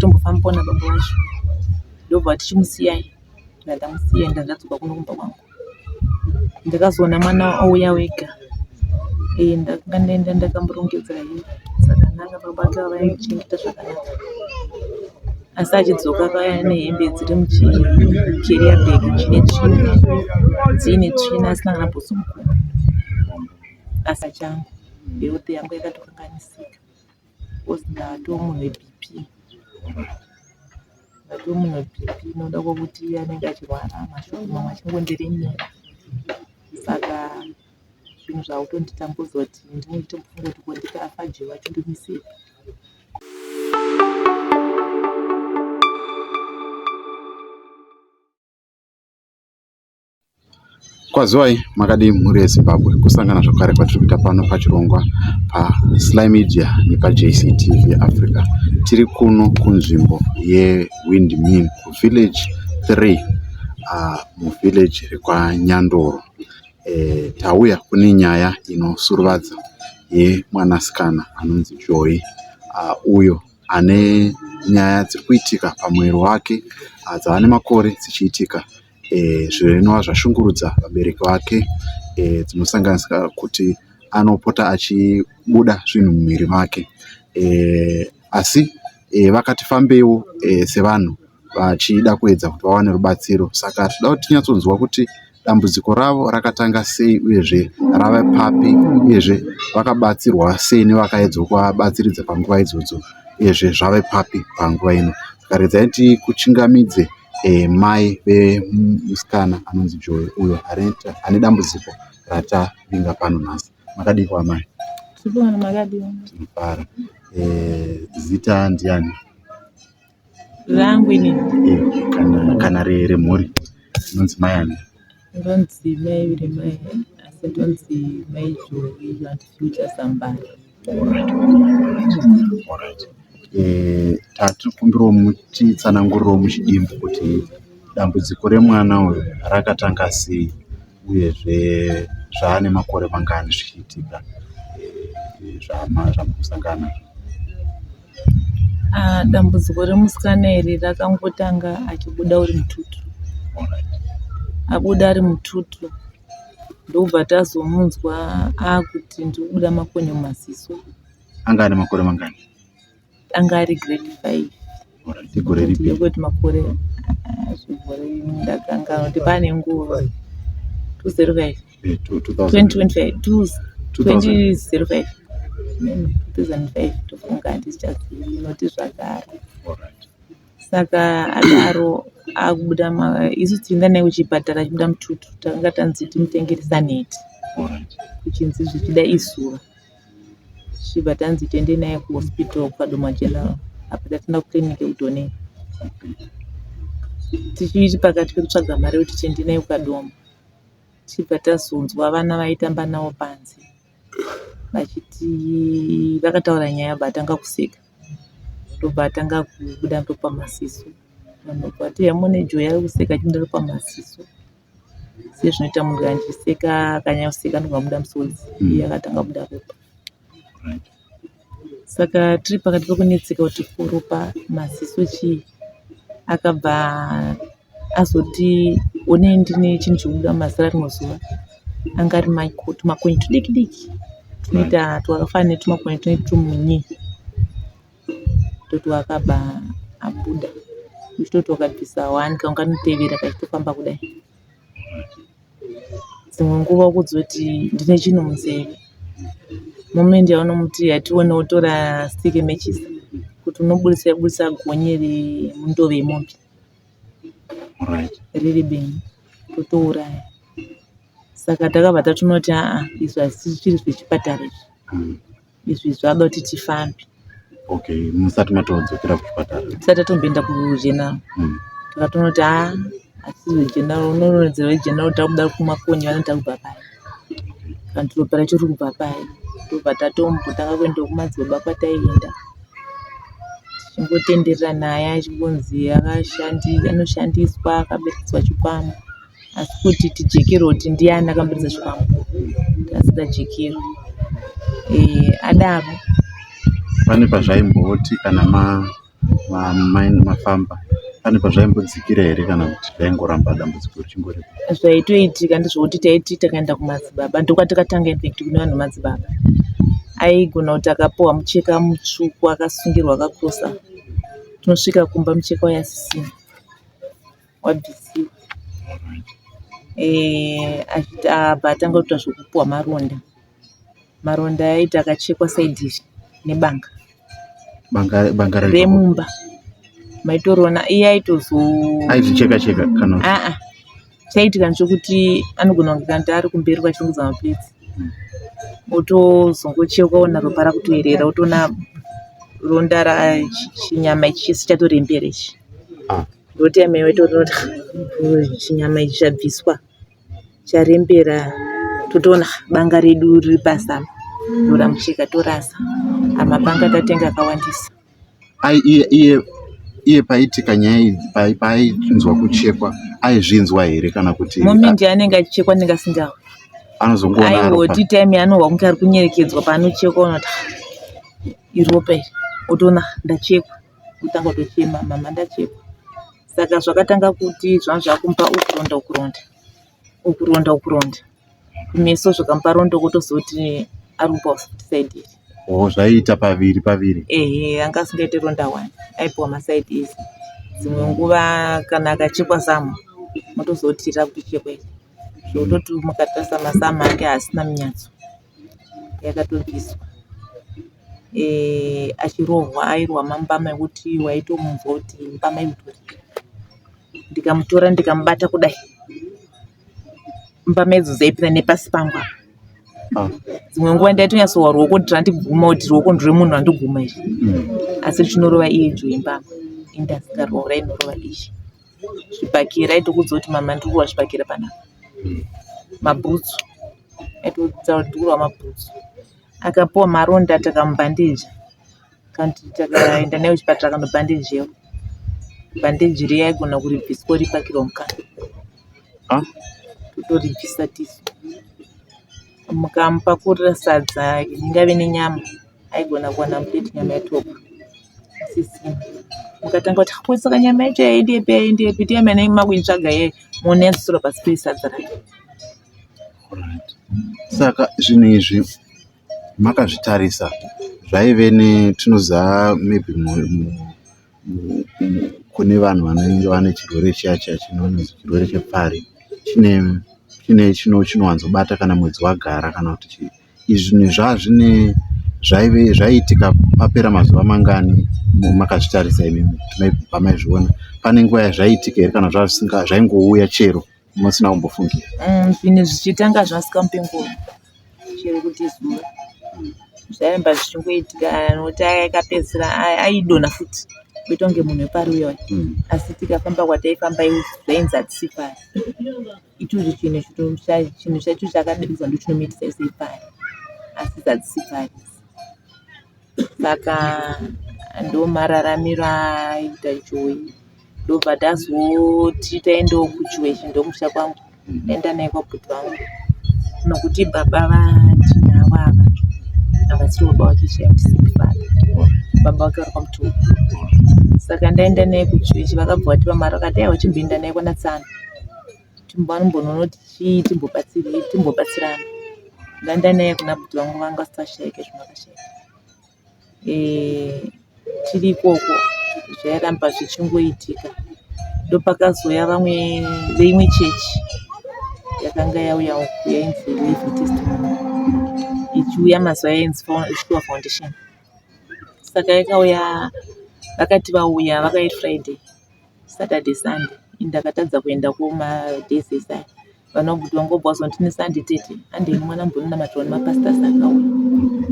tombofambawo nababa vacho ndobva tichimusiyai ndobva ndamusiya ndobva ndadzoka kuno kumba kwangu ndakazoona mwana auya wega ee ndakanga ndaenda ndakamurongedza hee zvakanaka baba vake vavaimuchengeta zvakanaka asi achidzoka paya nehembe dziri muchikeria bag chine tsvina dziine tsvina asina kana bhutsu mukuru asi achangu health yangu yakatokanganisika coz ndatomune BP ndatomune BP inoda kuti anenge achirwara mashoko mamwe achingondiremera saka zvinhu zvakutonditambudza kuti ndinenge nditombofunga kuti ko ndikafa je vachindimisei Kwaziwai makadii mhuri yeZimbabwe kusangana zvakare kwatiri kuita pano pachirongwa paSly Media nepaJCTV Africa. Tiri kuno kunzvimbo yeWindmill kuVillage 3 ah, muVillage rekwaNyandoro. Eh, tauya kune nyaya inosuruvadza yemwanasikana anonzi Joy ah, uyo ane nyaya dziri kuitika pamuviri wake ah, dzava nemakore dzichiitika zvinova zvashungurudza vabereki vake zvinosanganisira kuti anopota achibuda zvinhu mumuviri make asi vakati fambeiwo sevanhu vachida kuedza kuti vawane rubatsiro saka tinoda kuti tinyatsonzwa kuti dambudziko ravo rakatanga sei uyezve rave papi uyezve vakabatsirwa sei nevakaedzwa kuvabatsiridza panguva idzodzo uyezve zvave papi panguva ino saka redzai tikuchingamidze mai vemusikana anonzi Joy uyo ane dambudziko ratavinga pano nhasi. Makadii kwamai? Tinofara. Eh, zita ndiani? Rangu ini. Eh, kana kana remhuri inonzi mai ani? Ndonzi mai Viremai asi ndonzi mai Joy Future Sambara. Tatikumbirawo mutitsanangurirewo muchidimbu kuti dambudziko remwana uyu rakatanga sei uyezve zvaane makore mangani zvichiitika zvamuri kusangana nazvo. Dambudziko remusikana iri rakangotanga achibuda uri mututu. Abuda ari mututu ndokubva tazomunzwa akuti ndiri kubuda makonyo mumaziso anga ane makore mangani anga ari grade five igore ripi ndokuti makore zvigore ndakanga kuti pane nguva two zero five eh, twenty twenty five two twenty zero five two thousand five tofunga handichazivi inoti zvagara Saka adaro akubuda isu tichienda naye kuchipatara achibuda mututu takanga tanzi timutengere saneti kuchinzi zvichida isura tichibva tanzi tiende naye kuhospital kwadoma general apa tatienda kuclinic kudone tichiti pakati pekutsvaga mari yekuti tiende naye kwadoma tichibva tazonzwa vana vaitamba nawo panze vachiti vakataura nyaya apa atanga kuseka ndobva atanga kubuda ndopa maziso vanhu vabva vati heya muone joy ari kuseka achibuda ndopa maziso sezvinoita munhu kana achiseka akanyanya kuseka anobva abuda musodzi hmm. iye akatanga kubuda ropa saka tiri pakati pekunetseka kuti ko ropa maziso chii akabva azoti one ndine chinhu chekubuda mumazira rimwe zuva anga ari maiko tumakonye tudiki diki tunoita twakafanana netumakonye tune tumunyi toti wakabva abuda uchitoti wakabvisa one kanga kanotevera kachitofamba kudai dzimwe nguva kuzoti ndine chinhu munzeve moment yaunomuti hatione wotora stick matches kuti unoburitsa buritsa gonye remundove yemombe. riri benzi totouraya saka takabva tatonoti aa izvi hazvisisiri zvechipatara izvi hmm. izvi zvada kuti tifambe okay musati matodzokera kuchipatara tisati tatomboenda kugeneral hmm. takatonoti aa asi zvegeneral unoronzera vegeneral takuda kumakonye vanoda kubva paya and ropa racho riri kubva paye tobva tatombotanga kuenda kumadzibaba kwataienda tichingotenderera naye achingonzi anoshandiswa akaberekeswa chikwambo asi kuti tijekerwe kuti ndiani akamuberekesa chikwambo tasingajekerwi eh, adaro pane pazvaimboti kana ma Mamainini mafamba pane pazvaimbodzikira here kana kuti zvaingoramba dambudziko richingoripo? Zvaitoitika ndizvokuti taiti takaenda kumadzibaba ndokuva takatanga infect kune vanhu vemadzibaba. Aigona kuti akapiwa mucheka mutsvuku akasungirwa akakosa, tinosvika kumba mucheka uya asisina. wabvisiwa eh, achiti abva atanga kuita zvekupuwa maronda maronda aiti akachekwa saidi izvi nebanga banga remumba maitoriona iye aitozoaizvicheka cheka kana aa chaitika ndechokuti anogona kunge kanti ari kumberi kwachirongedza mapedzi hmm. otozongocheuka ona ropa rakutoerera otoona ronda rachinyama ichi chese chatorembera ichi ah. Ndoti amai vaiti unoti chinyama ichi chabviswa charembera totoona banga redu riri pazama ndoramucheka torasa amapanga tatenga akawandisa iye paitika nyaya idzi paainzwa kuchekwa aizvinzwa here kana kuti momendi anenge achichekwa anenge asingahwi anozongoaiwoti time anohwa kunge ari kunyerekedzwa paanochekwa unoti iropa iri otoona ndachekwa kutanga kutochema mama ndachekwa saka zvakatanga kuti zvangu zvakumupa ukuronda ukuronda ukuronda ukuronda kumeso zvakamupa rondo kotozoti ari kupiwa futi saidi iri oh zvaiita paviri paviri ehe anga asingaite ronda one aipiwa masaidi izi dzimwe nguva kana akachekwa samwa motozoti ira kutochekwa iri zvekutoti mukatarisa masamwa ake haasina munyatso yakatobviswa achirohwa airwa mambama ekuti waitomunzwa kuti mbama imutoriro ndikamutora ndikamubata kudai mbama idzo dzaipinda nepasi pangu apa ah. dzimwe nguva ndaitonyatsowa ruoko kuti randiguma kuti ruoko ndirwemunhu randiguma izvi hmm. asi richinorova iye idzo yembama indasikaroora inorova izvi zvibhakira aitokuudza kuti mama ndiri kuwa zvibhakira panapa mabhutsu aitodhura mabhutsu akapiwa maronda takamubhandija takaenda naye kuchipatara akanobhandijewa bhandiji riya aigona kuribvisa oripakirwa mukati totoribvisa tisu mukamupakurira sadza ingave nenyama aigona kuwana mudeti nyama yatopa sisina mukatanga kuti ko saka nyama yacho yaendepi yaendepi tiye mene makuitsvaga ye moona yadzosera pasi pesadza racho Saka zvinhu izvi makazvitarisa zvaive ne tinoziva maybe kune vanhu vanenge vane chirwere chiya chiya chinonzi chirwere chepfari chine chinowanzobata kana mwedzi wagara kana kuti chii. Izvi zvinhu zvazvine zvaive zvaiitika papera mazuva mangani makazvitarisa imimi pamaizviona. Pane nguva yazvaiitika here kana zvaingouya chero musina kumbofungira mm, zvine zvichitanga zvasikampengoni chero kuti zuva zvaimba zvichingoitika noti aya akapedzisira aidona futi kuita kunge munhu wepari uyoyo mm. asi tikafamba kwataifamba zvainzi hatisi pari ichocho chinhu chinhu chacho chakadiridza ndochinomitisa ise pari asi zhatisi pari saka ndomararamiro aita ichoyi ndobva tazoti taendawo kuchiwechi ndomusha kwangu aenda naye kwabhuti vangu nokuti baba vatinavo ava havasiri baba wake chaimusifana baba wake vari kwamutuku saka ndaenda naye kuchiwechi vakabva vati vamari vakati aiwa chimboenda naye kwana tsano timbanombononoti chii timbobatsirana ndaenda naye kuna bhuti vangu vanga vasashaika zvino vakashaika tiri ikoko zvairamba zvichingoitika ndopakazouya vamwe veimwe chechi yakanga yauya uku yainzi living testimony ichiuya mazuva yainzi sure foundation saka yakauya vakati vauya vakayi friday Saturday Sunday ndakatadza kuenda kuma days esaya vanobuti vangobva wazonti neSunday tete handei mwana mbononamatwa nemapastas akauya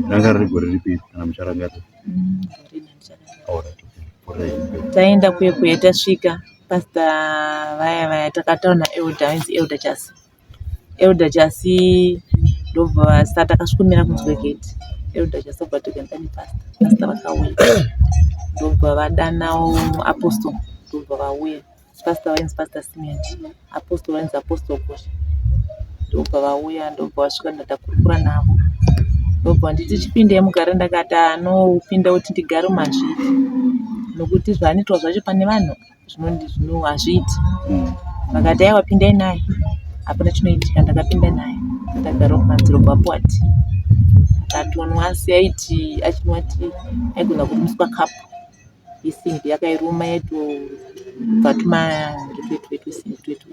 ranga riri gore ripi kana mucharangarira Mm, gore nandicharangarira. All right, okay. Gore ripi. taenda kuye kuye tasvika pasta vaya vaya takataura naelda ainzi elda chasi Elder Jasi ndobva vasati akasvikomira kunzwe gate Elder Jasi obva ati kuenda nepasta pasta vakauya ndobva vadanawo apostle ndobva vauya pasta vainzi pasta Simeon apostle vainzi apostle Kosha ndobva vauya ndobva vasvika ndatakurukura navo ndobva nditi chipinde mugare ndakati anopinda kuti ndigare mazviri nokuti zvaanoitwa zvacho pane vanhu zvinondi zvino hazviiti vakati aiwa pindai naye hapana chinoitika ndakapinda naye ndagara kumadziro kwapuati akatonwa asi aiti achinwa ti aigona kurumiswa kapu yesimbi yakairuma yatobva tumaretuetuetusimbi twetu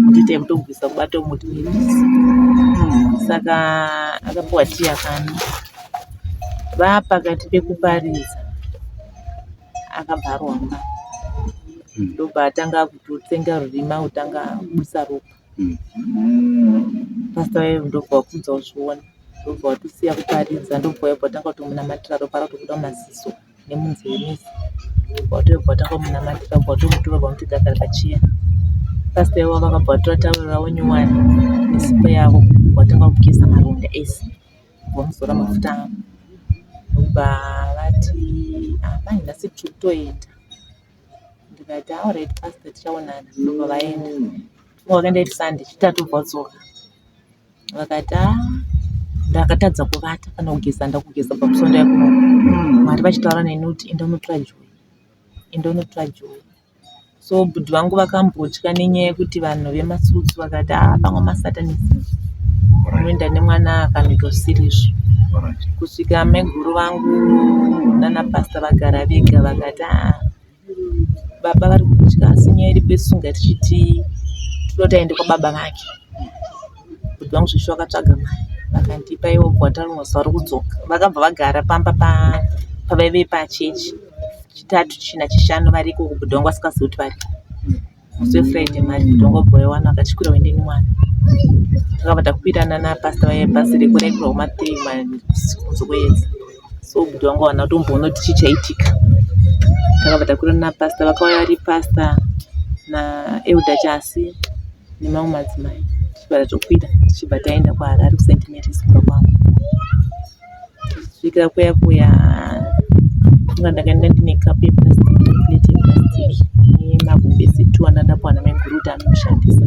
mutoita mutobvisa kubata umuti muitisi saka akapuwa ti akana vapakati pekuparidza akabva aromba mm. ndobva atanga kutotsenga rurima kutanga kubusa ropa mm. pasta vaye ndobva wakudza uzviona ndobva watosiya kuparidza ndobva wayobva watanga kutomunamatira ropa ratobuda mumaziso nemunzeve mese watoyobva watanga kumunamatira bva watomutora bva muti dakari pachiya pasta ivo vakabva vatora tawero ravo nyowani nesipo yavo watanga kugeza maronda ese Vamuzora mafuta ndokubva vati amai ah, nhasi tiri kutoenda ndikati aorit ah, pasta tichaonana ndobva vaenda vakaenda iri sande chitatu vadzoka vakati ah, ndakatadza kuvata kana kugeza ndakugeza pamusonda yakuno mari vachitaura neni kuti enda unotora joy enda unotora joy so bhudhi vangu vakambotya nenyaya yekuti vanhu vemasusu vakati haa pamwe masatanisi unoenda nemwana akanoita zvisiri izvo kusvika maiguru vangu nana pasta vagara vega vakati haa baba vari kutya asi nyaya iripo isu ngatichiti tinoda kuti aende kwababa vake. Bhudhi vangu Svisvi vakatsvaga mari vakandipa ivo gwata rinozi vari kudzoka. Vakabva vagara pamba pa- pavaive pachechi chitatu china chishanu variko uko bhudhi vangu vasingazivi kuti variko. Musi weFriday mari bhudhi vangu vabva vaiwana vakachikwira kuenda nemwana. Takabva takwirana napasita vaive bhazi reku raigura kuma three ma- kunze kweyedza. so kuti vanga vana tomboona kuti chii chaitika takabva takwira napasta vakauya vari pasta naelda chasi nemamwe madzimai tichibva tatokwira tichibva taenda kwaharari kusaint marys kumba kwavo kusvikira kuya kuya nga ndakaenda ndine kapu yeplastic plate yeplastic nemagumbezi two andadapuwa namaiguru kuti anoshandisa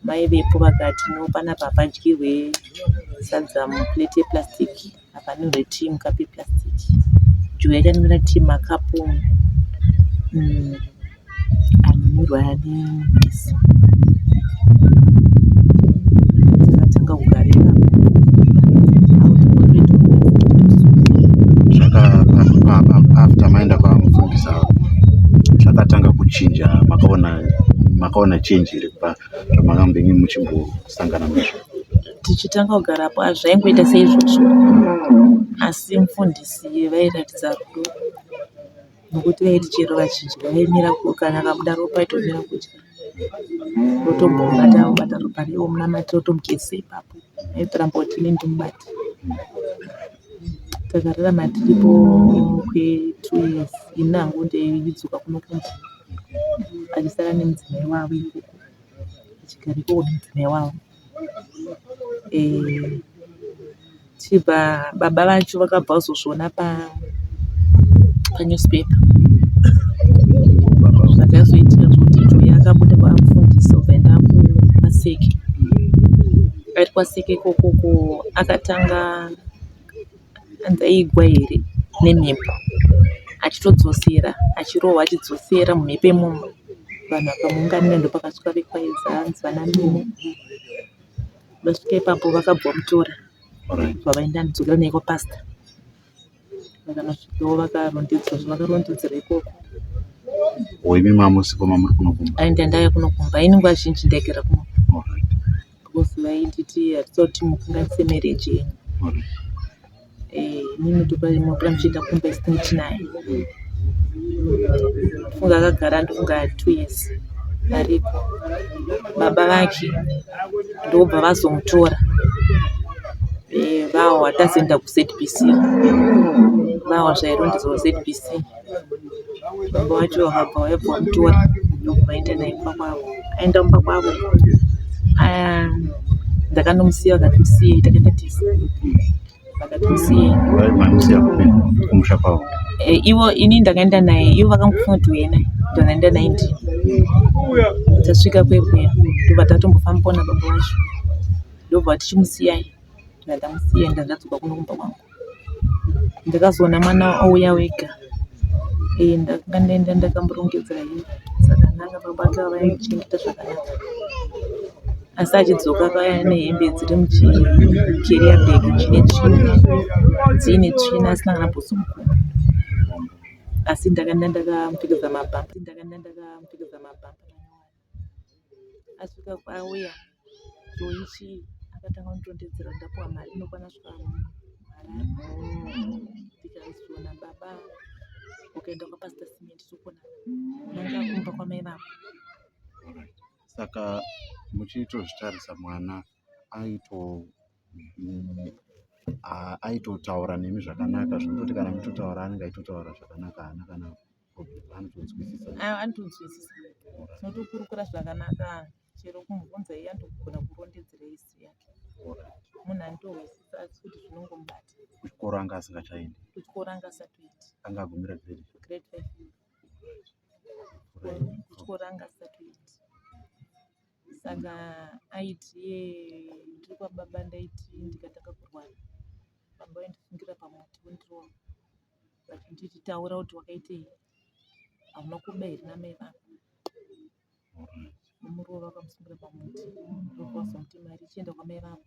vaivepo vakati no panapa hapadyirwe sadza mu plate ye plastic apa panwirwe tea mu cup ye plastic joe akanwira tea muma cup umu umm anonwirwa ne mbizi takatanga kugara ipapo zvaka after maenda kwamufundisa zvakatanga kuchinja makaona makaona change here kubva zvamangambenge muchimbosangana nazvo tichitanga kugara apo zvaingoita seizvozvo asi mufundisi vairatidza rudo nokuti vaiti chero vachidya vaimira kana kabuda ropa aitomira kudya votombobata obata ropa revo munamatiro tomugezesa ipapo aitoramba kuti ini ndimubati Takararama tiripo kwe two years ini hangu ndidzoka kuno kumba achisara nemudzimai wavo ikoko achigara ikoko nemudzimai wavo. Tichibva baba vacho vakabva vazozviona pa newspaper zvakazoitika zvekuti joy akabuda kwakufundisa kubva enda ku maseki. Ari kwaseke ikoko ko akatanga hanzi aigwa here nemhepo achitodzosera achirohwa achidzosera mumhepo imomo vanhu vakamuunganira ndopakasvika vekwaedza hanzi vana Mimi vasvika ipapo vakabva vamutora vakaenda kudzokera naye kwapasita. Vakasvikewo vakarondedzwa zvavakarondedzera ikoko. Or imi mamusikoma muri kunokumba? Ai ndandave kunokumba. Ini nguva zhinji ndaigara kuno. All right. Because vainditi hatisa kuti mukanganise marriage yenyu. All right. Eh, ini mutopa mapura muchienda kumba isina kuti naye. Funga akagara ndofunga two years ariko. Baba vake ndobva vazomutora eh, vawa tazoenda kuzbc vawa zvairondedzwa kuzbc baba wacho vakabva vaibva vamutora ndobva vaenda naye kumba kwavo aenda kumba kwavo ndakanomusiya vakati musiye takaenda tese eh, ivo ini ndakaenda naye ivo vakangofunga kuti uye naye ndakaenda naye ndi tasvika kwekuya ndobva tatombofamba pona baba wacho ndobva tichimusiyai ndatamusiyai ndandadzoka kuno kumba kwangu ndakazoona mwana ouya wega ee eh, ndakanga ndaenda ndakamurongedzera hii zvakanaka baba ake vavaichengeta zvakanaka asi achidzoka paya ane hembe dziri muchikeria bag chine tsvina dziine tsvina asina kana bhutsu mukumbo asi ndakanda ndakamupfekedza mabhampa ndakanda ndakamupfekedza mabhampa asvika kwauya choichi akatanga kunditondedzera ndapuwa mari inokwana svika ndikazviona baba ukaenda kwapasita simenti sokona nanga kumba kwamai vako Saka muchitozvitarisa mwana aito aitotaura nemi zvakanaka zvekutoti kana mutotaura anenge aitotaura zvakanaka haana kana anotonzwisisa anotonzwisisa tinotokurukura zvakanaka chero kumubvunza iye anotogona kurondedzera isi yake munhu anitohwisisa asi kuti zvinongomubata kuchikoro anga asingachaendi kuchikoro anga asatoiti anga agumira grade grade five kutyora satellite saka aiti ye ndiri kwababa ndaiti ndikatanga kurwara baba vaindisungira pamuti vondirova vachinditi taura kuti wakaitei hauna kuba here namai vako muruva vakamusungira pamuti ndokuvazomuti mari ichienda kwamai vako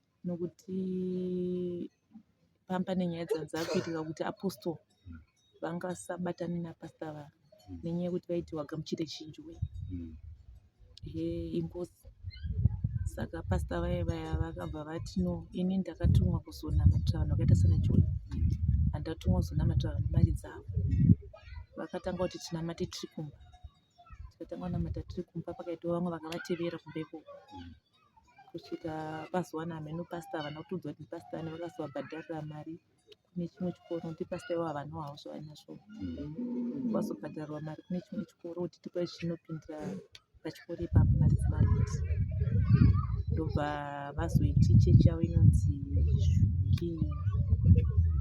nokuti pamba nenyaya dzanzi akuitika kuti apostle vangasabatani napasta va mm. nenyaya yekuti vaiti wagamuchire chinjwe mm. he ingozi saka pasta vaye vaya vakabva vati no ini ndakatumwa kuzonamatira vanhu vakaita sana joni handatumwa kuzonamatira vanhu mari dzavo vakatanga kuti tinamate tiri kumba tikatanga kunamata tiri kumba pakaitwa vamwe vakavatevera kumbeko mm. kusvika vazowana hameno pastor havana kutudzwa kuti pastor ane vakazovabhadharira mari kune chimwe chikoro kuti pastor ivo havana havo zvavanazvo vazobhadharwa mari kune chimwe chikoro kuti tipa chinopindira pachikoro ipapo mari dzemarenti ndobva vazoiti chechi yavo inonzi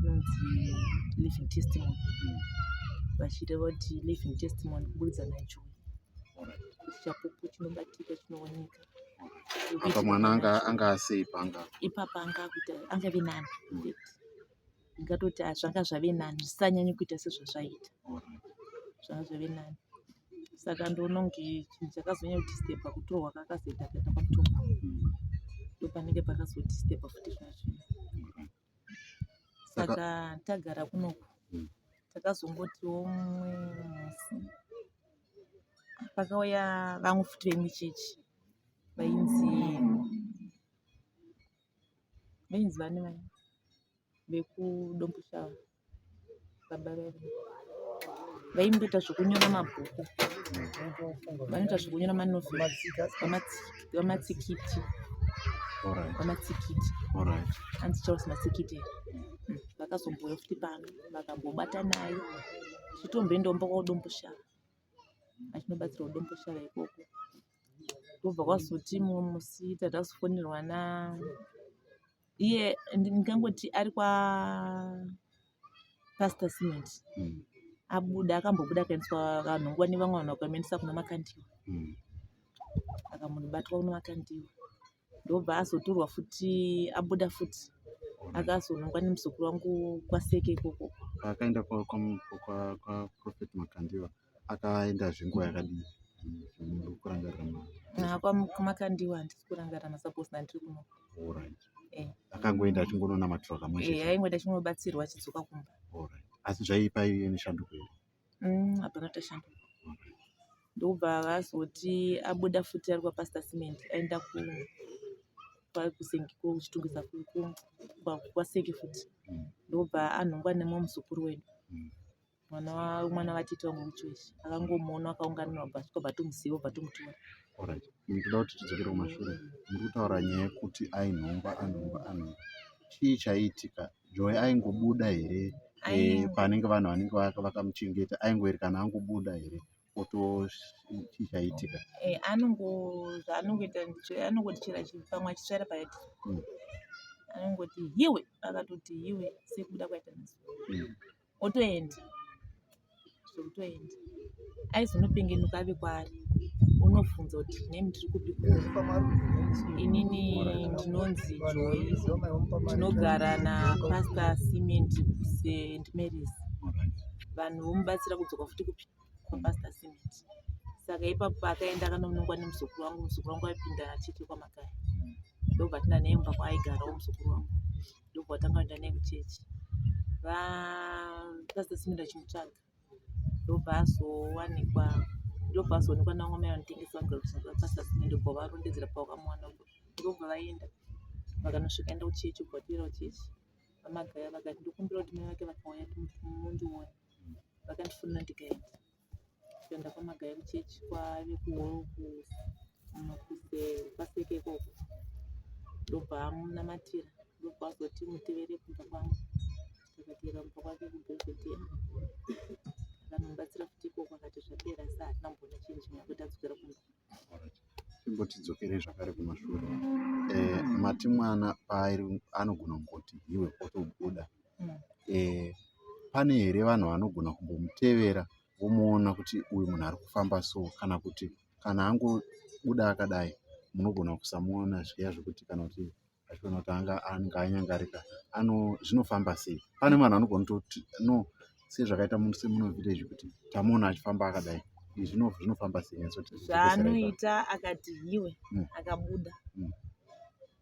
inonzi living testimony vachida vati living testimony kuburidza nacho kuti chapupu chinobatika chinooneka apa mwana anga anga asei panga ipapa anga kuita anga ve nani hmm. ngatoti ah, zvanga zvave nani zvisanyanye kuita sezvazvaita zvanga zvave nani saka ndononge chinhu chakazonyanya kuti stepa kutorwa kakazoita kaita kwakutorwa hmm. ndopanenge pakazoti stepa futi zvazvino saka tagara kunoku hmm. takazongotiwo mumwe musi pakauya vamwe futi vemuchechi vainzi vainzi vane vane vekudomboshava baba vedu vaimboita zvekunyora mabhuku vanoita zvekunyora manovheri vamatsikiti vamatsikiti hanzi charles matsikiti vakazombouya futi pano vakambobata naye chitombendombo kwadomboshaa achinobatsira udomboshaa ikoko ndobva kwazoti mumwe musi tatazofonerwa na iye ndingangoti ari kwa pastor cement mm. abuda akambobuda akaendeswa kanhongwa nevamwe vanhu vakamuendesa kuna makandiwa mm. akamunobatwa kuna makandiwa ndobva azotorwa futi abuda futi akazonongwa nemuzukuru wangu kwaseke ikoko akaenda kwaprofet makandiwa kwa, kwa akaenda zve nguva yakadii kurangarira haa kwamakandiwa handisi kurangarira masupports andiri kuno alright eh. akangoenda achingononamatira kamwe chete eh, aingoenda achingobatsirwa achidzoka kumba alright asi zvaipa iye neshanduko here mm, hapana tashanduka ndokubva vazoti abuda futi ari kwapastor cement aenda ku kwakusengi kuchitungisa kwaseki futi mm. ndokubva anhongwa nemumwe muzukuru wedu mm. mwana wa mwana vatete wangu muchoisi akangomuona akaunganira ubva tikobva tomuziva ubva tomutora Alright. Ndinoda kuti tidzokere kumashure. Muri kutaura nyaya yekuti ainhongwa anhongwa anhongwa. Chii chaiitika? Joy aingobuda here eh, Aingo- panenge vanhu vanenge vaka- vakamuchengeta aingoerekana angobuda here oto chii chaiitika? eh, anongo zvaanongoita ndicho- anongoti chero achipamwa achisvara paati Mm. anongoti hiwe akatoti hiwe sekubuda kwaita mazuva Mm. otoenda zvekutoenda aizonopengenuka ave kwaari unobvunza kuti name tiri kupi inini ndinonzi joy ndinogara napastor cement st marys vanhu vomubatsira kudzoka futi kupi kwapastor cement saka ipapo paakaenda akanonongwa nemuzukuru wangu muzukuru wangu aipinda achiti kwamakaya ndobva tinda naye mumba kwaaigarawo muzukuru wangu ndokwatanga kuenda naye kuchechi vapasita simira chimutsvaga ndobva azowanikwa ndobva azoonekwa nangomai vanotengesa vagapasita simira ndobva varondedzera pavakamwana ndobva vaenda vakanosvika enda kuchechi ubva toera kuchechi vamagaya vakati ndokumbira kuti mai vake vakauya mundione vakandifonera ndikaenda kuenda kwamagayi kuchechi kwave kuwolkupaseke ikoko ndobva amunamatira ndobva azoti mutevere kumba kwangu takatevera kumba kwake kubhezvetea akanomubatsira futi ikoko akati zvapera sa hatina mbona chinhu chimwe akuti adzokera kumba imbotidzokere zvakare kumashure eh, mati mwana paari anogona kungoti hiwe otobuda eh, pane here vanhu vanogona kumbomutevera vomuona kuti uyu munhu ari kufamba so kana kuti kana angobuda akadai munogona kusamuona zviya zvekuti kana kuti achiona kuti anga anenge anyangarika ano zvinofamba sei pane vanhu vanogona kutoti no sezvakaita semunovillage kuti tamuona achifamba akadai zvinofamba sei zvaanoita akati hiwe mm. akabuda mm.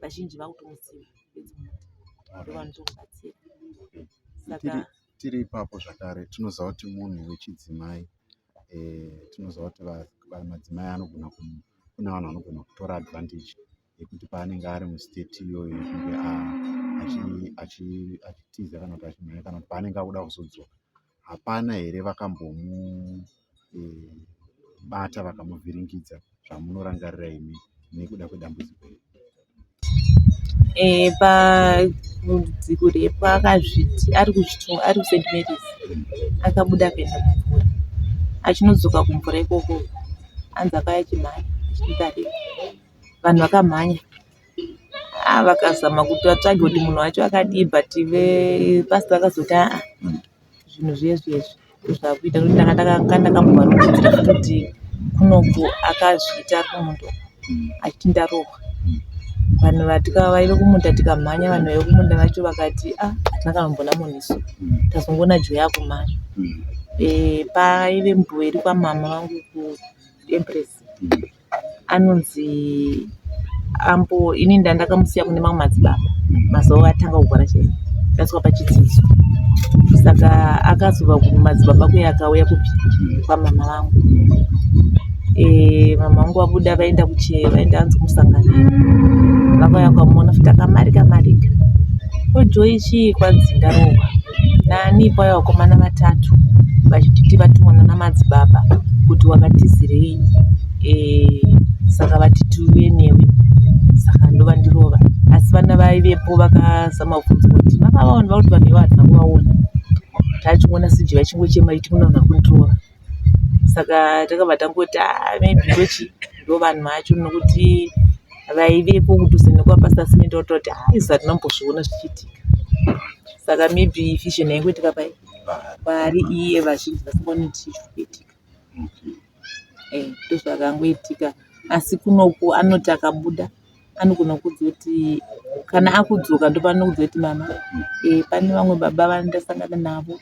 vazhinji vakutomuziva ndovanotomubatsira saka tiri ipapo zvakare tinoziva kuti munhu wechidzimai eh, tinoziva kuti madzimai anogona kune vanhu vanogona kutora advantage yekuti paanenge ari mustate iyoyo yekunge achitiza kana kuti achimhanya kana kuti paanenge akuda kuzodzoka hapana here vakambomubata vakamuvhiringidza zvamunorangarira imi nekuda kwedambudziko iri eh, pambudziko repo akazviti ari kuzvitonga ari kusaint marys akabuda akaenda kumvura achinodzoka kumvura ikoko anzi akaya chimhanya achititarei vanhu vakamhanya Haa vakazama kuti vatsvage kuti munhu wacho akadii but vepastor vakazoti aa zvinhu zviezvi ezvi ndozvakuita nokuti ndanga ndakambovarongedzera futi kuti kunoko akazviita ari kumundo achiti ndarohwa vanhu vatika vaive kumunda tikamhanya vanhu vaive kumunda vacho vakati a ah, hatina kanombona munhu isu tazongoona jo yakumhanya e, paive mbuva iri kwamama vangu kuempress anonzi ambo ini ndandakamusiya kune mamwe madzibaba mazuva atanga kugwara chai ndaswa pachidzidzo saka akazova kumadzibaba kuya akauya kupi kwamama vangu eh, mama vangu vabuda vaenda kuchee vaenda anzi kumusangano vakauya kwamuona futi akamarika marika Ko Joy chii kwanzi ndarohwa nani kwai vakomana vatatu vachititi vatumwa nana madzibaba kuti wakatizirei eh, saka vati tiuye newe saka ndovandirova asi vana vaivepo vakazama kubvunza kuti makavaona vakuti vanhu ivavo havana kuvaona tachimona siji vachingochema ichiti munoona kundirova saka takabva tangoti ah, maybe ndochi ndovanhu vacho nokuti vaivepo kudhuze nekwapasita simende vatoti ah, izva tinombozviona zvichiitika saka maybe fission yaingoitika pai paari iye vazhinji vasingaoni kuti chii chikuitika eh, ndozvakangoitika asi kunoku anoti akabuda anogona kuudza kuti kana akudzoka ndopanokudza kuti mama eh, pane vamwe baba vandasangana navo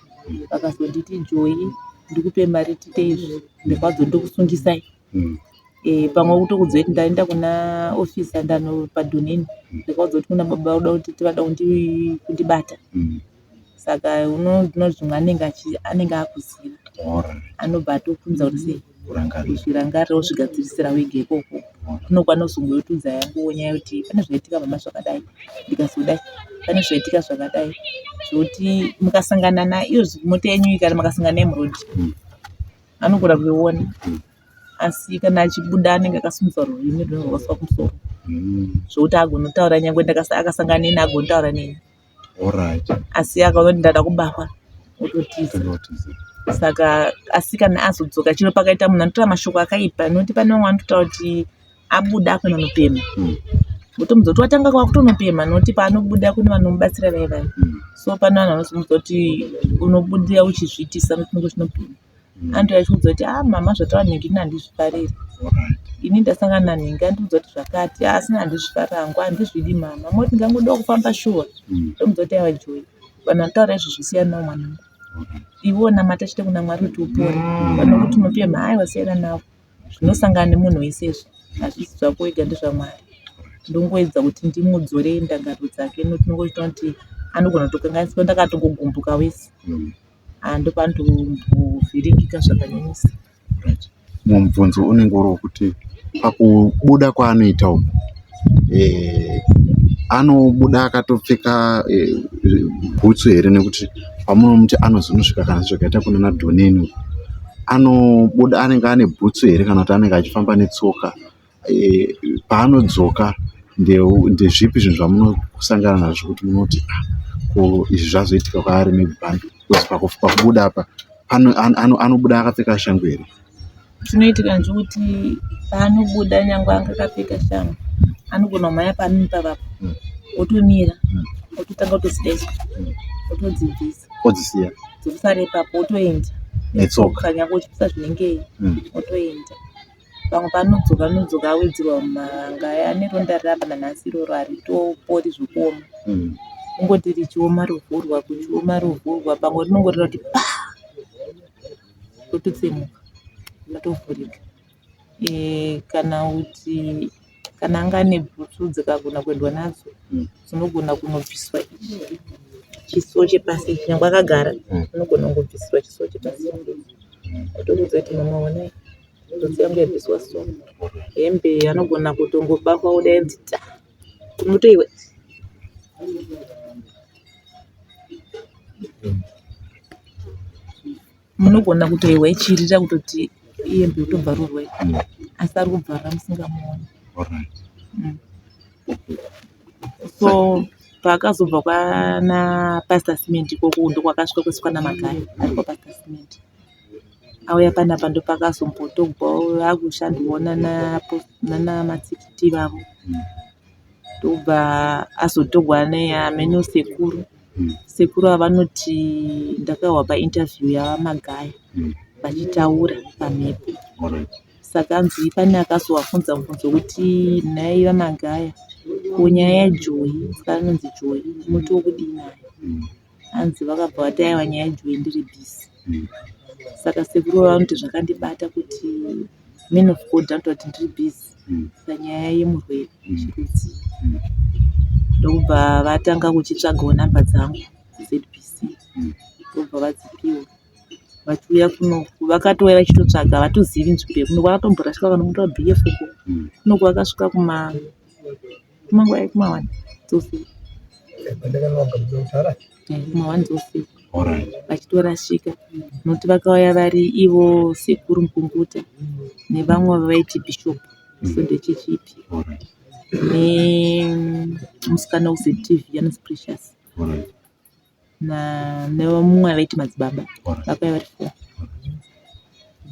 vakazonditi joyi ndikupe mari tiite izvi ndirwadzo ndokusungisai mm. eh, pamwe kutokudza kuti ndaenda kuna ofisi andano padhoneni ndikaudzwa kuti kuna baba uda kuti tivada kundibata mm. saka unoti zvimwe anenge akuziva anobva atokuudza kuti sei zvirangarire wozvigadzirisira wega ikoko unokwanisa kuzonge wotiudza yako nyaya yekuti pane zvaitika mama zvakadai ndikazodai pane zvaitika zvakadai zvekuti mukasangana naiyo mota yenyu iyi kana makasangana naye muroad anogona kuiona asi kana achibuda anenge akasimudza rurimi rwunenge rwakasuka kumusoro zvekuti agonotaura nyangwe akasangana neni agonotaura neni asi akaona ndada kubahwa ototiza saka asi kana azodzoka chino pakaita munhu anotora mashoko akaipa noti pane vamwe vanototaura kuti abuda akuna nopema hmm. votomudza kuti watanga kwakutonopema noti paanobuda kune vanomubatsira vaivai hmm. so pane vanhu vanozomuza kuti unobudira uchizviitisa notinenge zvinopema andiuya achiudza kuti ah mama zvataura nhingi ini handizvifariri ini ndasangana nanhingi andiudza kuti zvakati ah, asina handizvifariri hangu handizvidi mama moti ngangoda kufamba shuwa mm. ndomudza kuti aiwa joyi vanhu vanotaura izvi zvisiyanawo mwanangu iwe onamata chete kuna mwari kuti upore mm. vanokuti unopemha aiwa siyana navo zvinosangana nemunhu wese izvi hazvisi zvako wega ndezvamwari ndongoedza kuti ndimudzorei ndangariro dzake notinongoita kuti anogona kutokanganiswa ndakatongogumbuka wese mm. Ah, ndopandovhiringika zvakanyanyisa mubvunzo unenge uri wekuti pakubuda kwaanoita uku eh, anobuda akatopfeka eh, bhutsu here nekuti pamunomuti anozonosvika kana zvakaita kunana dhoneni anobuda anenge ane bhutsu here kana kuti anenge achifamba netsoka paanodzoka ndezvipi zvinhu zvamunosangana nazvo kuti munoti ah ko izvi zvazoitika kwaari maybe pakubuda apa anobuda akapfeka shangu here chinoitika ndechekuti paanobuda nyangwe anga akapfeka shangu anogona kumhanya paanini pavapo hmm. otomira hmm. ototanga kutozidesa hmm. otodzibvisa odzisiya dzokusara ipapo otoenda netsoka nyangwe uchipisa zvinengei otoenda Pamwe panodzoka nodzoka awedzerwa mavanga aya ane ronda rapa nanhasi iroro haritopori zvokuoma mm. kungoti richioma rovhurwa kuchioma rovhurwa pamwe rinongorira kuti pa rototsemuka rotovhurika e, kana kuti kana anga ane bhutsu dzikagona kuendwa nadzo mm. dzinogona kunobviswa izvi chisuwo chepasi nyangwe akagara mm. unogona kungobvisirwa chisuwo chepasi otokuudza kuti mama onai Tsotsi yangu yabviswa so hembe anogona kutongobakwa odainzi ta kumuti iwe munogona kutoiwa ichirira kutoti iyembe yotobvarurwa asi ari kubvarura musingamuoni mm. so paakazobva kwana pastor cement ikoko ndokwakasvika kwesvikwa namagaya ari kwapastor cement auya panapa ndopakazombotorwawo vakushandirwawo nana matikiti ivavo ndobva azotorwa neameno sekuru sekuru ava vanoti ndakahwa painterview yamagaya vachitaura pamhepo saka anzi pane akazovafunza mubvunzo wekuti nhai vamagaya ko nyaya yajoyi vanonzi joyi munotiwo kudii nayo hanzi vakabva vati aiwa nyaya ijuwe ndiri busy mm. saka sekuru vanoti zvakandibata kuti man of god anotaura kuti ndiri busy mm. panyaya yemurwere mm. chirudzi mm. ndokubva vatanga kuchitsvagawo namba dzangu zbc mm. ndokubva vadzipiwa vachiuya kuno vakatouya vachitotsvaga vatozivi nzvimbo yekuno vakatomborashika vanomutora bf uko mm. kunoku vakasvika kuma mm. Kumango ayi kuma one dzofi. Kuma one dzofi. Alright. Vachitorashika nokuti vakauya vari ivo sekuru Mupunguta nevamwe vaiti Bishop Sunday Church ipi nemusikana uZTV anonzi Precious nemumwe avaiti madzibaba vakauya vari four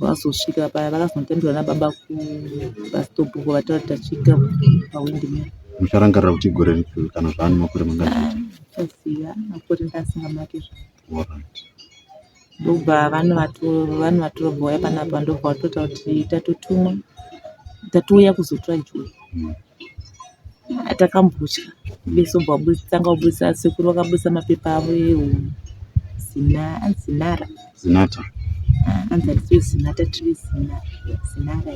vazosvika paya vakazonotambirwa nababa kubastop uko vataura kuti tasvika pawindi mea mucharangarira kuti gore ripi kana zvaani makore mangaiziva makore ndaasingamake zva ndobva vanovatora vobva vauya panapa ndobva vatoita kuti tatotumwa tatouya kuzotora joni mm. atakambotya vese bva tanga kubudisa sekuru vakabudisa mapepa avo ezina zinara zinata ah, anzi hatisiyo zinata tiri zina zinara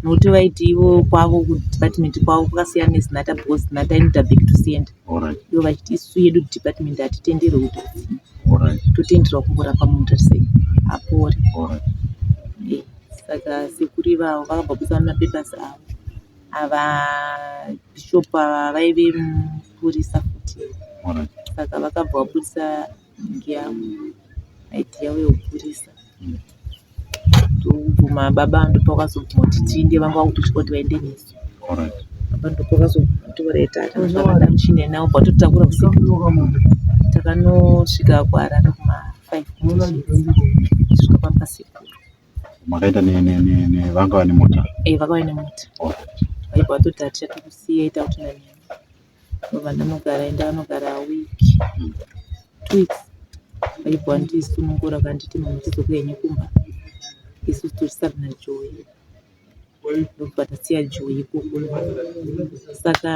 nokuti vaiti ivo kwavo kudepartment kwavo kwakasiyana nezinata because zinata inoda back to senda Alright. Ivo vachiti isu yedu department hatitenderwe kuti kusina. Alright. Totenderwa kungorapa munhu tarisei apore. Alright. Eh, Saka sekuru ivavo vakabva kuisa mapapers avo. Ava bishop ava vaive mupurisa futi. Alright. Saka vakabva vapurisa Inenge yava night yavo yekukurisa ndokubvuma baba ava ndopavakazobvuma kuti tiinde vanga vakutotya kuti vaende nesu Alright. apa ndopavakazobvuma kuti vaita ati zvavada muchine navo kwatotakura usiku takanosvika kuharare kuma five kusvika pamba sekuru Makaenda ne- ne- ne- ne- vanga vane mota. eh vakauya nemota Alright. vaibva vatoti hatichatokusiya ita kuti nani Apa pandinogara ende anogara week two weeks aibva andisunungura akanditi mhamha chizoka henyu kumba isu tichisara naJoy ndobva tasiya Joy ikoko saka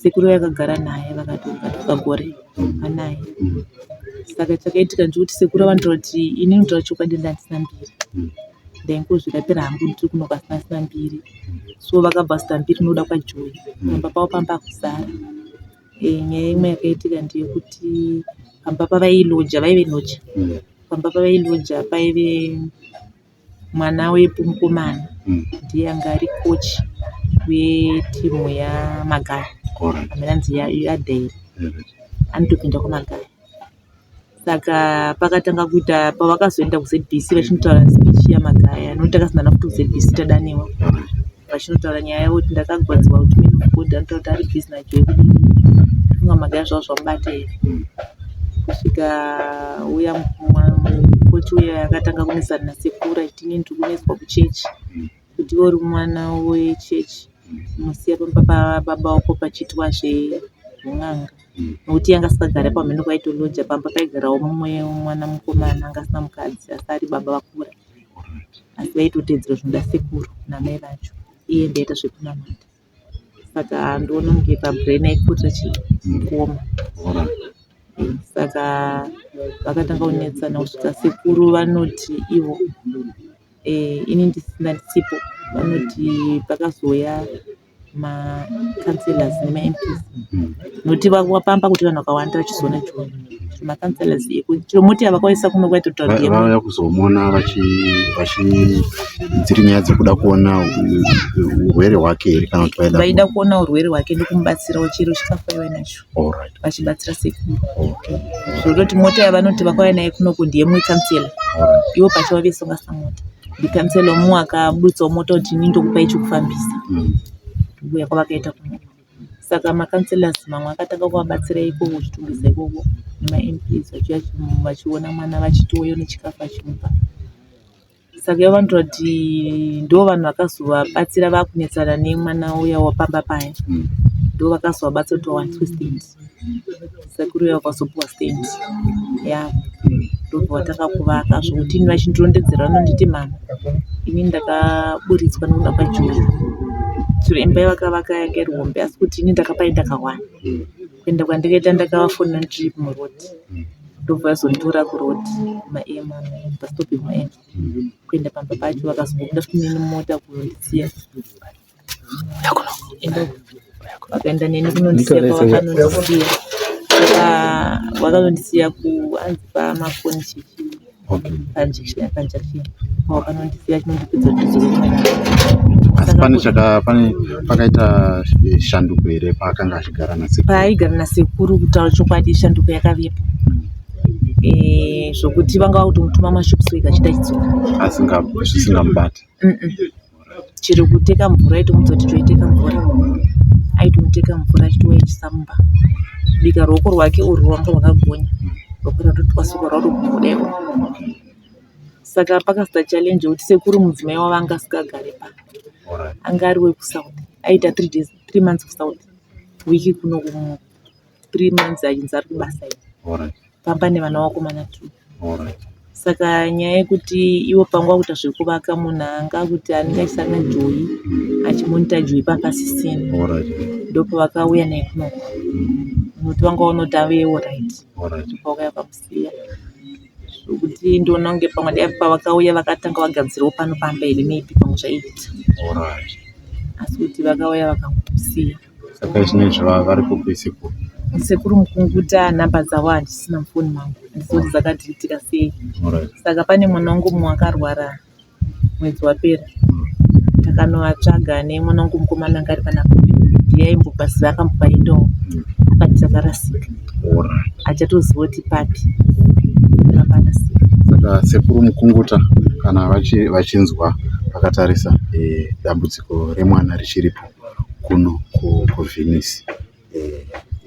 sekuru vakagara naye vakatonga pagore vanaye saka chakaitika ndechekuti sekuru vanototi inini kutaura chokwadi ndandisina mbiri ndaingozvirapira hangu ndiri kuno pasina sina mbiri so vakabva vazoti ambiri ndinoda kwaJoy pamba pavo panga pakuzara. Eh, nyaya imwe yakaitika ndeyekuti pamba pavailoja vaive loja Mm. pamba pavailoja paive mwana wepo mukomana Mm. ndiye anga ari coach wetimu yamagaya Alright. amene anzi yadheri Alright. anotopinda kwamagaya saka pakatanga kuita pavakazoenda kuzbc vachinotaura speech yamagaya nokuti takasangana nayo futi kuzbc tadaniwa vachinotaura nyaya yavo kuti ndakagwadziwa kuti man of god anotaura kuti ari busy najoe kudii funga magaya zvavo zvamubata here kusvika uya mukoti uya akatanga kunesana nasekuru achiti inini ndiri kuneswa kuchechi mm. kuti iwe uri mwana wechechi unosiya pamba pababa vako pachiitwa zven'anga nokuti yanga asikagare pamhene kwaitoloja pamba paigarawo mumwe mwana mukomana anga asina mukadzi asi ari baba vakura asi vaitotedzera zvinoda sekuru namai vacho iye ndaita zvekunamata saka ndoona kunge pa brain aipoter achikuoma saka vakatanga kunetsana kusvika sekuru vanoti ivo eh, ini ndisina ndisipo vanoti pakazouya macounselors nemamps noti vapamba kuti vanhu vakawanda vachizoona chiona makanselesi chomoti avakaisa kuno kwaitotavauya kuzomona vachitsiri nyaya dzekuda kuona urwere hwake here kana kuti vaida vaida kuona urwere hwake nekumubatsirawo chiro chikafu aiva nacho vachibatsira sekuru zvototi mota yavanoti vakauya naye kuno ku ndiye mukansela ivo pacho vave songasa mota ndikansela mu akabuditsawo mota kuti ini ndokupai chokufambisa mm. kubuya kwavakaita kuno Saka ma councillors mamwe akatanga kuvabatsira ikoko zvitungwiza ikoko nema MPs vachiuya vachiona mwana vachitouya nechikafu vachimupa. Saka ivo vanotaura kuti ndovanhu vakazovabatsira vakunetsana nemwana uya wepamba paya ndovakazovabatsira kuti vawaniswe stand. Sekuru uya wakazopuwa stand yaa ndobva takakuvaka zvokuti ini vachindirondedzera vanonditi mhamha ini ndakaburitswa nekuda kwaJoe chero imba yavakavaka yanga iri hombe asi kuti ini ndakapainda kahwani kuenda kwandakaita ndakavafonera ndichiri muroad ndobva vazonditora kuroad maem bus stop yemaem kuenda pamba pacho vakazobuda futi neni mumota kundisiya vakaenda neni kunondisiya kwavanondisiya saka vakanondisiya kuanzi pamafoni chichi panjection panjection kwawakanondisiya chinondipedza asi pane chaka pane pakaita shanduko here paakanga achigara nasekuru paaigara nasekuru kutaura chokwadi shanduko yakavepo eh, zvokuti vanga vakutongotuma mashops wega chidaidzwa asingamubati mm -mm. chero kuteka mvura aitomuudza kuti toiteka mvura aitomuteka mvura achitouya echisamba kubika ruoko rwake urwu rwanga rwakagonya rwekuti atotwasuka rwatogodewa saka pakasita challenge yekuti sekuru mudzimai wavo anga asikagare pa anga ari wekusouth aita three days three months kusouth wiki kuno kumuno three months achinzi ari kubasa iyo Alright, pamba nevana vakomana two alright. saka nyaya yekuti ivo pangu akuita zvekuvaka munhu anga akuti anenge achisanga joyi achimonita joyi papasisina Alright, ndopavakauya naye kunoko muti wanga unoti avewo right alright. pakauya pamusiya zvokuti ndoona kunge pamwe dai pavakauya vakatanga vagadzirawo pano pamba here maybe pamwe zvaiita Alright. asi kuti vakauya vakamusiya Saka zvinezvi varipo kwese ko. Sekuru Mukunguta number dzavo handisina mufoni mangu handizoti ah. dzakadhilitika sei saka pane mwana wangu mumwe akarwara mwedzi wapera hmm. takanovatsvaga nemwana wangu mukomana anga ari pana ndiye aimbobaziva akambopa indowo hmm. akati dzakarasika achatoziva kuti papi akanasika saka sekuru mukunguta kana vachinzwa vakatarisa eh, dambudziko remwana richiripo kuno kuVenice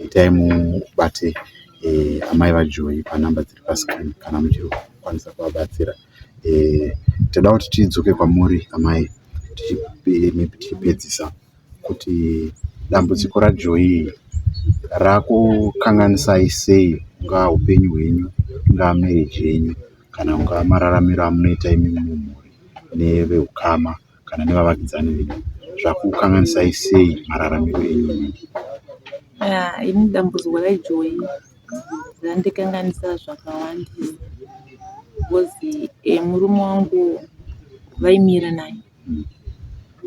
itai mubate amai vaJoy panumber dziri pascreen kana muchiri kukwanisa kuvabatsira. Toda kuti tidzoke kwamuri amai tichipedzisa kuti dambudziko raJoy iri rakukanganisai sei mungaa hupenyu hwenyu, ingaa marriage yenyu kana mungaa mararamiro amunoita imimi mumhuri nevehukama. kana nevavakidzani venyu zvakukukanganisai sei mararamiro enyu nhingi ah, ini dambudziko rajoyi randikanganisa zvakawandisa bcause eh, murume wangu vaimira naye hmm.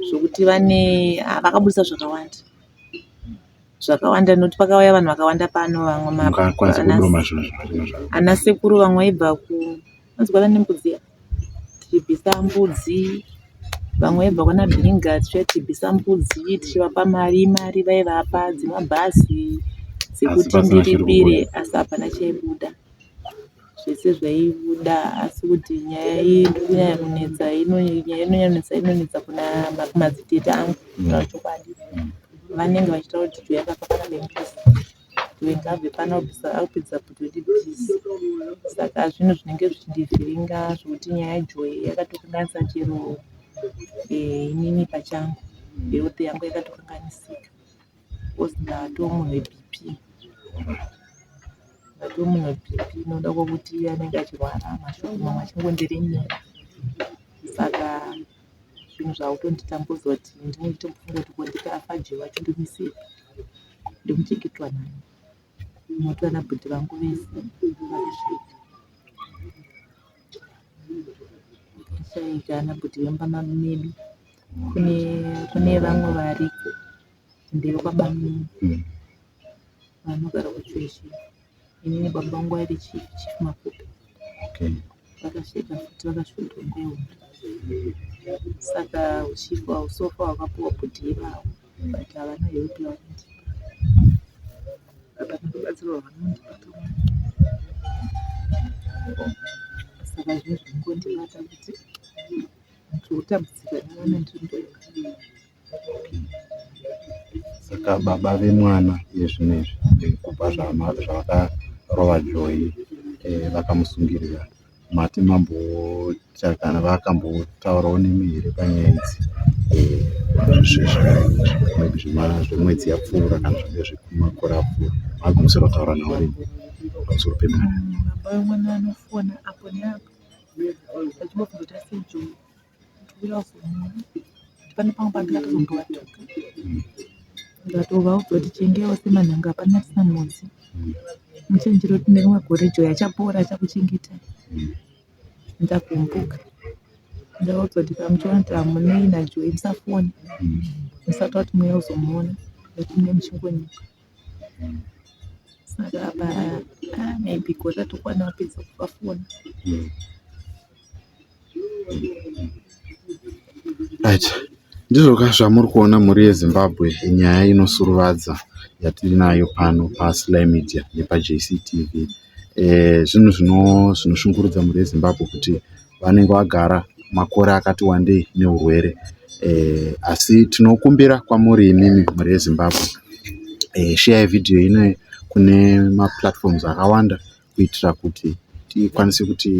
zvokuti vane ah, vakaburitsa zvakawanda zvakawanda nokuti pakauya vanhu vakawanda pano vamwe ana sekuru vamwe vaibva ku Unonzwa vane mbudzi iya tichibvisa mbudzi vamwe vaibva kwana bhiringa tichiuya tichibvisa mbudzi tichivapa mari mari vaivapa dzemabhazi dzekuti ndiripire asi hapana chaibuda zvese zvaibuda asi kuti nyaya iyi ndiri kunyanya kunetsa nyaya inonyanetsa inonetsa kuna madzitete angu kutaura chokwadi vanenge vachitaura kuti tuyakafakana nembuzi Ndikabve pano bsa akupedza kutoti bhizi saka zvinhu zvinenge zvichindivhiringa zvekuti nyaya yaJoy yakatokanganisa chero eh, inini pachangu health yangu yakatokanganisika because ndatoo munhu weBP ndatoo munhu weBP inoda kwekuti anenge achirwara mashoko mamwe achingondiremera saka zvinhu zvakutonditambudza kuti ndinenge ndichitombofunga kuti ko ndikafa Jay wacho ndomuisirei ndomuchengetwa nani moto ana bhudhi vangu vese shaika ana bhudhi vemba medu kune kune vamwe variko ndevekwabamunini vanogara kuchweshi ini nebaba vangu vaive chief chief Makupe Okay. vakasvika futi vakasvikirwa nguva hombe saka uchief hwawo sofa hwakapuwa bhudhi ivavo but havana help yavanondipa hapana rubatsiro rwavanondipa kamwe saka zvine zvingondibata kuti ndiri kutambudzika nevana ndiri ndoga Saka baba vemwana iye zvino izvi kubva zvavakarova Joy vakamusungirira mati mamboita kana vakambotaurawo nemi here panyaya idzi zvemwedzi yapfuura kana zvinenge zvemakore apfuura magumisira kutaura navo riini pamusoro pemwana. Baba vemwana vanofona apo neapo vachibvunza kuti asi Joy. pane pamwe pandinga tozomboatuka ndatovawo kuti tichengewo semanhanga hapana tisina mhodzi muchenjero tine rimwe gore joy achapora achakuchengetai ndakumbuka ndaudzwa kuti pamuchiona kuti hamunei najoy musafoni musati wati mweya uzomuona nekuti mune muchingonyika saka apa ah, maybe gore ratokwana wapedza kuvafona Right. Ndizvoka zvamuri kuona mhuri yeZimbabwe nyaya inosuruvadza yatinayo pano paSly Media nepaJCTV. Eh, zvinhu zvino zvinoshungurudza mhuri yeZimbabwe kuti vanenge vagara makore akati wandei neurwere. Eh, asi tinokumbira kwamuri imimi mhuri yeZimbabwe. Eh, share video ino kune maplatforms akawanda kuitira kuti tikwanise kuti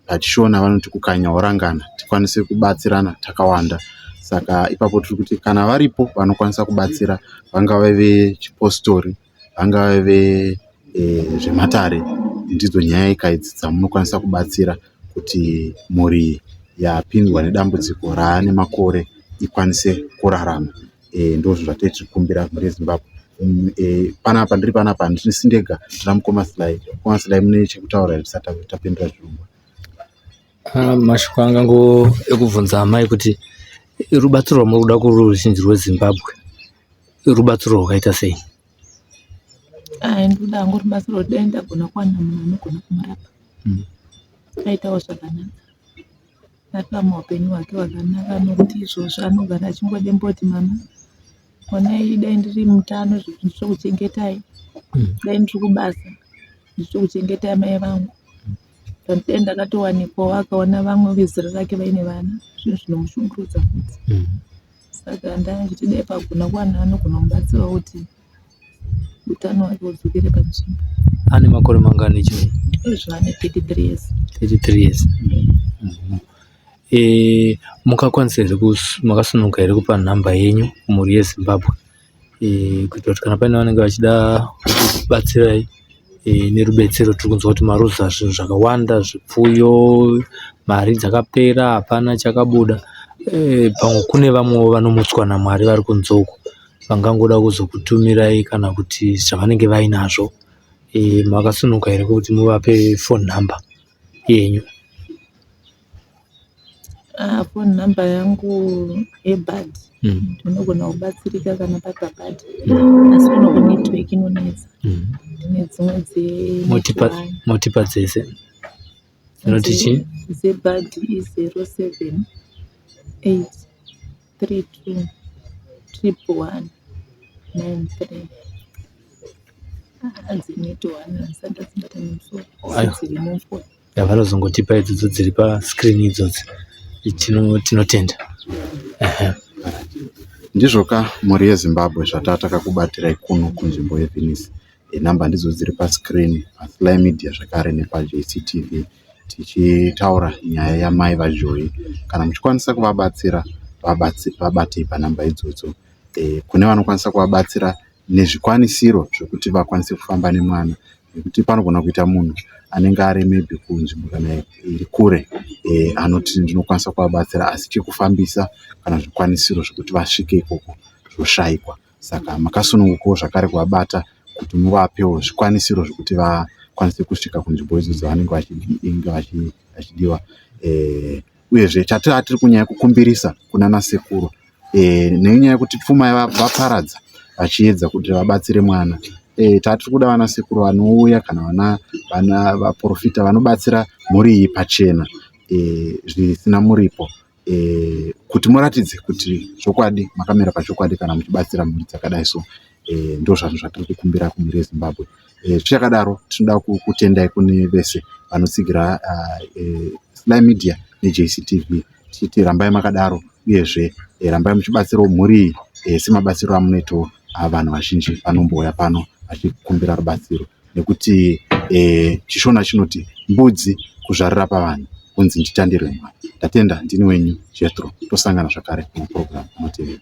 pachishona vanoti kukanya worangana tikwanise kubatsirana takawanda saka ipapo tiri kuti kana varipo vanokwanisa kubatsira vangave vechipositori, vangave vezvematare ndidzo nyaya ika idzi dzamunokwanisa kubatsira kuti mhuri yapindwa nedambudziko raane makore ikwanise kurarama. Ndozvinhu zvatinenge tichikumbira mhuri yeZimbabwe. Panapa ndiri panapa handisi ndega ndina mukoma Sly. Mukoma Sly mune chekutaura here tisati tapindura chirongwa? Mashoko anga ngo ekubvunza amai kuti rubatsiro rwamuri kuda kuruzhinji rweZimbabwe rubatsiro rwakaita sei? Ayi ndoda hangu rubatsiro dai ndagona kuwana munhu anogona kumurapa aitawo zvakanaka. akararama upenyu hwake hwakanaka nekuti izvozvo anogara achingodemba kuti mama honai dai ndiri mutano ndichikuchengetai mm. dai ndiri kubasa ndichikuchengetai mai vangu but then ndakatowanikwawo akaona vamwe vezera rake vaine vana zvinhu zvinomushungurudza futi mm. saka ndanga ndichiti dai pagona kuwana anogona kubatsirawo kuti Utano hwake hudzokere panzvimbo. Ane makore mangani Joy? Ezvo ane 33 years. 33 years. Mhm. Eh, mukakwanisa here kus- makasunuka here kupa nhamba yenyu kumhuri yeZimbabwe eh, kuitira kuti kana paine vanenge vachida kubatsirai eh, nerubetsero tiri kunzwa kuti maruza zvinhu zvakawanda zvipfuyo mari dzakapera hapana chakabuda eh, pamwe kune vamwewo vanomutswa naMwari vari kunze uko vangangoda kuzokutumirai kana kuti zvavanenge vainazvo e, makasunuka here kuti muvape phone number yenyu ah, phone number yangu yebad mm. ndinogona mm. kubatsirika kana papabad mm. asi kuno kunetwork inonetsa mm. ndine dzimwe dzemotipa dzese inoti chii zebad i zero seven eight 32 111 93 ah, dzinetowana dzisati dzibata nemusoro dziri mumvura yavanozongotipa idzidzo dziri pascreen idzodzi tinotenda ndizvoka mhuri yezimbabwe zvatataka kubatirai kuno kunzvimbo yevenice Number ndidzo dziri pa screen pa sly media zvakare nepa JCTV tichitaura nyaya ya mai va Joy. Kana muchikwanisa kuvabatsira vabatei pa number idzodzo. Kune vanokwanisa kuvabatsira nezvikwanisiro zvekuti vakwanise kufamba nemwana nekuti panogona kuita munhu anenge ari maybe kunzvimbo kana iri kure anoti ndinokwanisa kuvabatsira asi chekufambisa kana zvikwanisiro zvekuti vasvike ikoko zvoshaikwa. Saka makasunungukawo zvakare kuvabata kuti muvapewo zvikwanisiro zvekuti vakwanise kusvika kunzvimbo idzo dzavanenge vachidiwa. Eh, uyezve chatiri kunyaya kukumbirisa kunana sekuru eh, nenyaya yekuti pfuma vaparadza vachiedza kuti vabatsire mwana eh, tatiri kuda vana sekuru vanouya kana vana vana vaprofita vanobatsira mhuri iyi pachena zvisina muripo. e, kuti muratidze kuti zvokwadi makamira pachokwadi kana muchibatsira mhuri dzakadai so e, eh, ndozvanhu zvatiri kukumbira kumhuri yezimbabwe e, eh, tichakadaro tinoda kutendai kune vese vanotsigira ah, e, sly media nejctv tichiti rambai makadaro uyezve e, rambai muchibatsirawo mhuri iyi e, semabatsiro amunoitawo ah, vanhu vazhinji vanombouya pano vachikumbira rubatsiro nekuti e, chishona chinoti mbudzi kuzvarira pavanhu kunzi nditandirwe mwana ndatenda ndini wenyu jetro tosangana zvakare muprogram anotevera